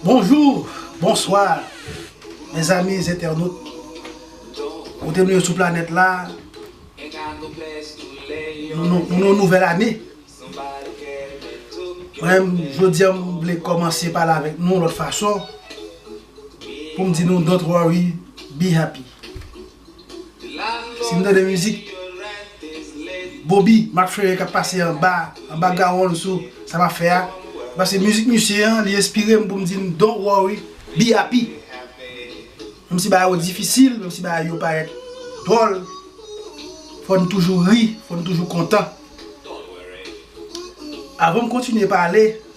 Bonjou, bonswa, mèzami zentènot, kote nou ye sou planèt la, nou nou nouvèl ane. Mwen, jodi an mwen vle kòmanse pale avèk nou lòt fason, pou m di nou don't worry, be happy. Si m tande mizik Boby map fere kap pase anba anba gawonl sou sa map fè a pase mizik misye an li enspire m pou m di m don't worry be happy menm si bagay yo difisil menm si bagay yo parèt dwòl fò n toujou ri fò n toujou kontan avan m kontinye pale.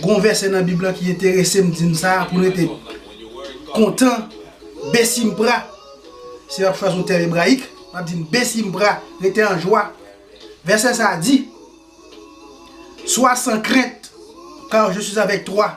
Gon vèsè nan bib lan ki enteresem dim sa pou nou rete kontan besimpra si map chwazi yon tèm ebrayik map di besimpra rete an jwa vèsè sa di swa san krent kar je suis avèk twa.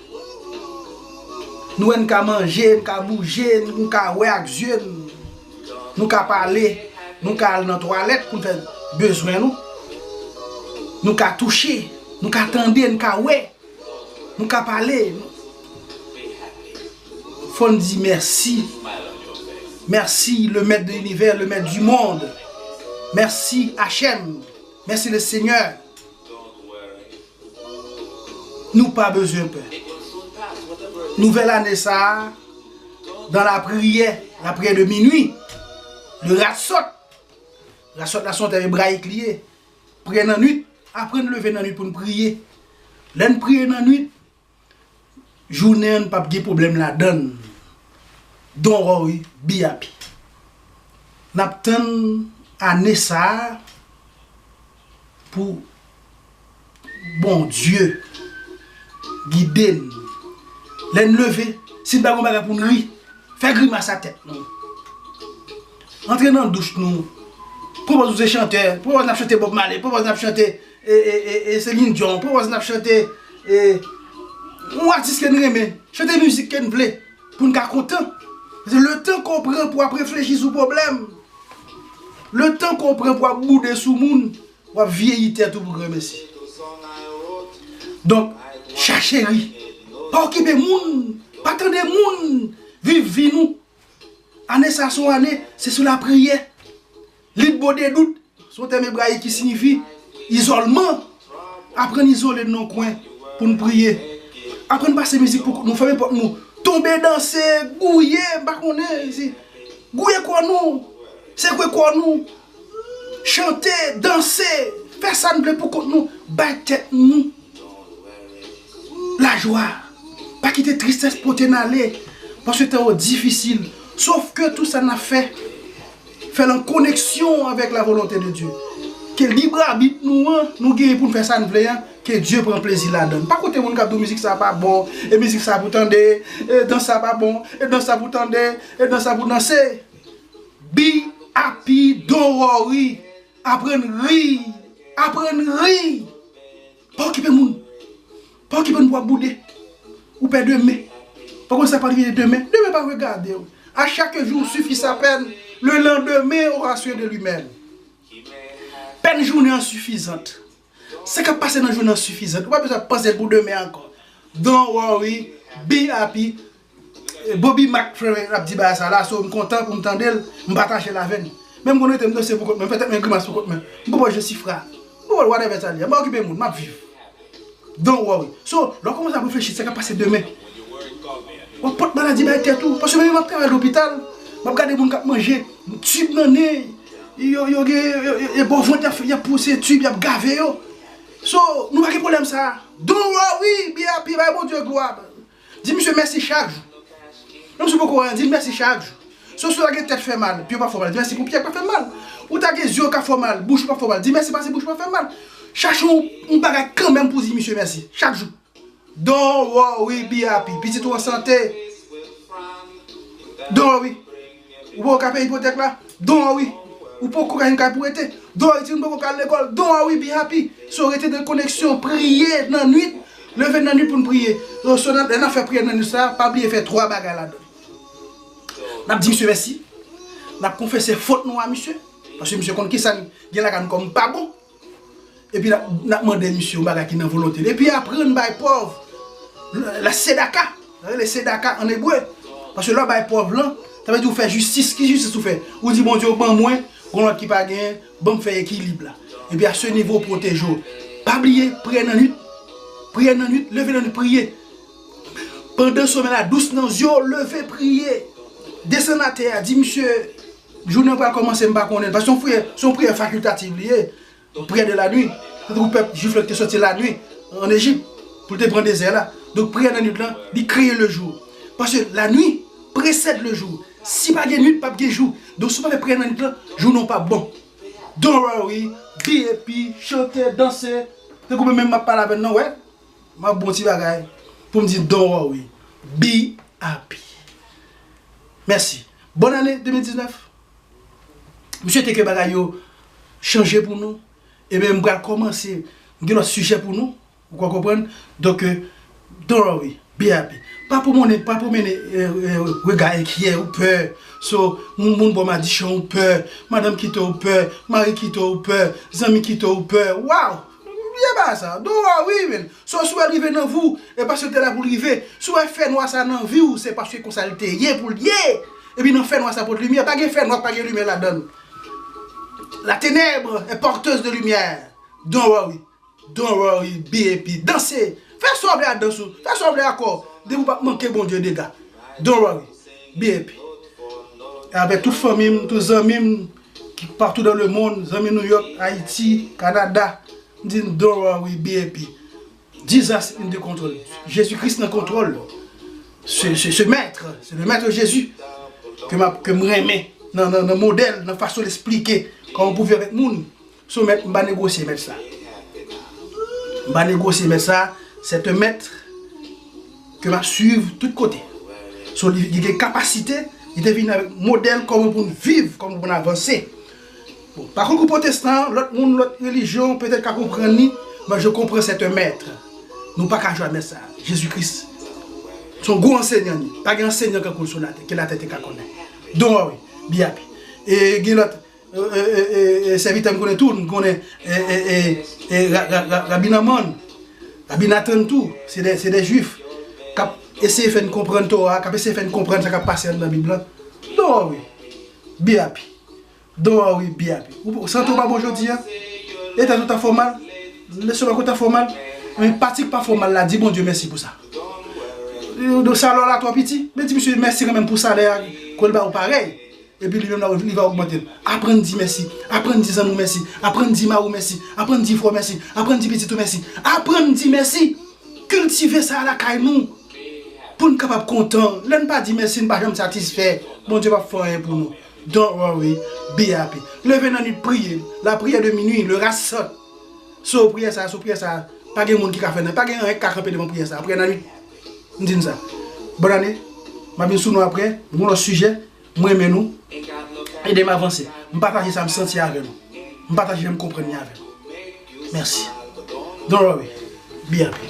Nou wè n ka manje, n ka bouje, nou ka wè ak zye n, nou ka pale, nou ka al nan twalèt pou n fè bezwen nou, nou ka touche, nou ka tande, nou ka wè, nou ka pale. Fò n di mèsi, mèsi le mèt de linivè, le mèt di mond, mèsi HM, mèsi le senyè. Nou pa bezwen pè. Nouvèl ane sa a, dan lapriyè, lapriyè de minwi, de rassot, rassot la son tèm ebrayik li ye, priyè nannuit, aprann leve nannuit pou n priye. Lè n priye nannuit, Jounen an pap gen pwoblèm ladann Don't worry be happy Nap tann ane sa pou Bondye gide n Lè n leve si n pa gen yon bagay pou n ri fè grimas a tèt nou Antre nan douch nou Pwopòz nou se chantè Pwopòz n ap chante Bob Marley Pwopòz n ap chante E e e e se mindyon an pwaz nap chante e yon atis ke n renmen chante mizik ke n vle pou n ka kontan se le tan ke w pran pou w ap reflechi sou pwoblèm le tan ke w pran pou w ap boude sou moun w ap vyeyi tèt ou pou gremesi donk chache ri pa okipe moun pa tande moun viv vi nou Ane sa a se yon ane, se sou lapriyè. Lit bo de dout, se yon tèm ebrayik ki siyifi izòlman. Aprann izole nan yon kwen pou nou priye. Aprann pase mizik pou kont nou, fèmen pòt nou, tonbe danse, gouye, m pa konnen, gouye kò nou, sekwe kò nou, Chante, danse, fè sa n vle pou kont nou, bay tèt nou lajwa. Pa kite tristès pote n ale, paske tan yo difisil. Sof ke tout sa n ap fè, fè l an koneksyon avèk lavolonte de Dye. Ke librabit nou an, nou genyen pou n fè sa n vle an, ke Dye pran plezi ladan l. Pa koute moun k ap di w mizik sa a pa bon, e mizik sa a pou w tande, e dans sa a pa bon, e dans sa a pou w tande, e dans sa a pou w danse. Bby happy don't worry aprann rii aprann rii pa okipe moun pa okipe moun pou wap boude ou pè demen pa konn sa pral rive demen demen pa regadew a chak jou sifi sa pèn le landemen aura soin de lui mèm pèn jounen an sifizant. Sa kap pase nan jounen an sifizan. Ou pa bezwen ap panse pou demen ankò. Don't worry, be happy. Boby Mac Ferrer ap di bagay sa la, so m kontan pou m tande l, m pataje l avè n. Men m konn rete m danse pou kont mwen, m fè tèt mwen grimas pou kont mwen. M poko Jesifra, m poko whatever sa li a. M pa okipe moun, m ap viv. Don't worry. So, lè w kòmanse ap reflechi de sa kap pase demen, w ap pot maladi bay tèt ou. Paske menm jan m ap travay lopital, m ap gade moun k ap manje. Tube nan nen yo yo gen e bò vant yap pouse tube yap gave yo so nou pa gen problem sa don't worry be happy bay Bondye glwa di misye mèsi chak jou menm si ou poko wè dil mèsi chak jou so si ou ta gen tèt fè mal pye ou pa fè w mal di mèsi pou pye k pa fè mal ou ta gen zye ou ka fè w mal bouch ou pa fè w mal di mèsi pase bouch ou pa fè mal chache yon bagay kanmenm pou di misye mèsi chak jou. Don't worry be happy pitit ou an sante Don't worry ou poko ka peye ipotèk la Don't worry ou poko ka yon kay pou rete Don't worry timoun poko ka al lekòl Don't worry be happy So rete nan koneksyon priye nan nwit leve nan nwit pou n priye So lè nap fè priyè nan nwit sa pa bliye fè 3 bagay ladan l Nap di misye mèsi Nap konfese fot nou a misye paske misye konn kisa n gen lakay nou kòm pa bon Epi nap mande misye yon bagay ki nan volonte li. Epi aprann bay pòv la sedaka. Sa rele sedaka an ebre. Paske lè w bay pòv lan, sa vle di ou fè jistis. Ki jistis ou fè? Ou di Bondye ou ban mwen, gon lòt ki pa genyen, ban m fè ekilib la. Epi a se nivo w pwoteje w. Pa bliye priyè nan nwit. Priyè nan nwit, leve nan nwit priye. Pandan somèy la dous nan zye w, leve priye. Desann atè a, di misye. Jounen an pral kòmanse m pa konnen l paske son priyè son priyè fakiltativ li ye priyè de lanwi se tankou pèp jwif lan ki te sòti lanwi an Ejip pou l te pran dezè la donk priyè nannuit lan li kreye lejou paske lanwi presèd lejou si pa gen nuit p ap gen jou donk si w pa fè priyè nannuit lan jounen w p ap bon don't worry BAP chante danse tankou menm menm m ap pale avè n lan wè m ap bon ti bagay pou m di don't worry BAP mèsi Bòn ane 2019 M swete ke bagay yo chanje pou nou Ebyen m pral kòmanse M gen lòt sijè pou nou Ou ka konprann Donk Don't worry Be happy Pa pwomonnen Pa pwomene rega enkyè ou pè So moun bò madichon ou pè Madanm kite ou pè Mari kite ou pè Zanmi kite ou pè Waww M byen ba sa Don't worry men So si w wè rive nan vi w e paske l te la pou l rive, si w wè fè nwa sa nan vi w se paske konsa l te ye pou l ye, epi nan fè nwa sa pot limyè, pa gen fè nwa k pa gen limyè ladan l. La ténèbre est porteuse de lumière don't worry, don't worry, be happy, danse, fè sa w vle ak dans ou, fè sa w vle ak kò w, depi w pap manke Bondye dega, don't worry, be happy. Avèk tout fanmi m, tout zanmi m, Patou dan le mond zanmi New York Haiti Canada m di n don't worry be happy Jesus in the control Jezi Kris nan kontwòl se mèt se le mèt Jezi ke m renmen nan modèl nan fason l esplike kòman pou viv avèk moun. Sou mèt m pa negosye mèt sa m pa negosye mèt sa se te mèt ke map swiv tout kote sou li li gen kapasite li te vini avèk modèl kòman pou n viv kòman pou n avanse bon pa konkou potestan lòt moun lòt relijyon petèt ka konprann li mwen je konprann se te mèt nou pa ka jwa mèt sa jezi kris se yon gwo ansenyan li pa gen ansenyan kankou l sou latè ke latè te ka konnen don wè wi biyap e gen lòt. Sèvitè m konnen tou m konnen Rabi Nanman, Rabi Nathan tou se 2 jwif kap eseye fè n konprann Tora, kap eseye fè n konprann sa kap pase anndan bib lan. Don Henry BAP Don Henry BAP ou santi w pa bon jodi a? Etat ou ta fè w mal? Lestomak ou ta fè w mal? Ebyen pati k pa fè w mal la di Bondye mèsi pou sa. Salè w la twò piti? Men di misye mèsi kanmenm pou salè a ke l ba w parèy. Epi li menm li va ogmante l. Aprann di mèsi. Aprann di zanmi w mèsi. Aprann di mari w mèsi. Aprann di frè w mèsi. Aprann di pitit ou mèsi. Aprann di mèsi! Kiltive sa lakay nou pou n kapab kontan. Lè n pa di mèsi, n pa janm satisfè. Bondye pap fè anyen pou nou. Don't worry, be happy. Leve nan nuit priye. La prière de minuit, le ras saute. So priyè sa, so priyè sa, pa gen moun ki ka fè nan, pa gen anyen ki ka kanpe devan priyè sa. Priyè nan nuit. M di nou sa. Bonne année. M ap vin sou nou aprè. Yon lòt sijè. M renmen nou. Ede m avanse. M pataje sa m santi avè nou. M pataje jan m konprann li avè nou. Mèsi. Don't worry. Be happy.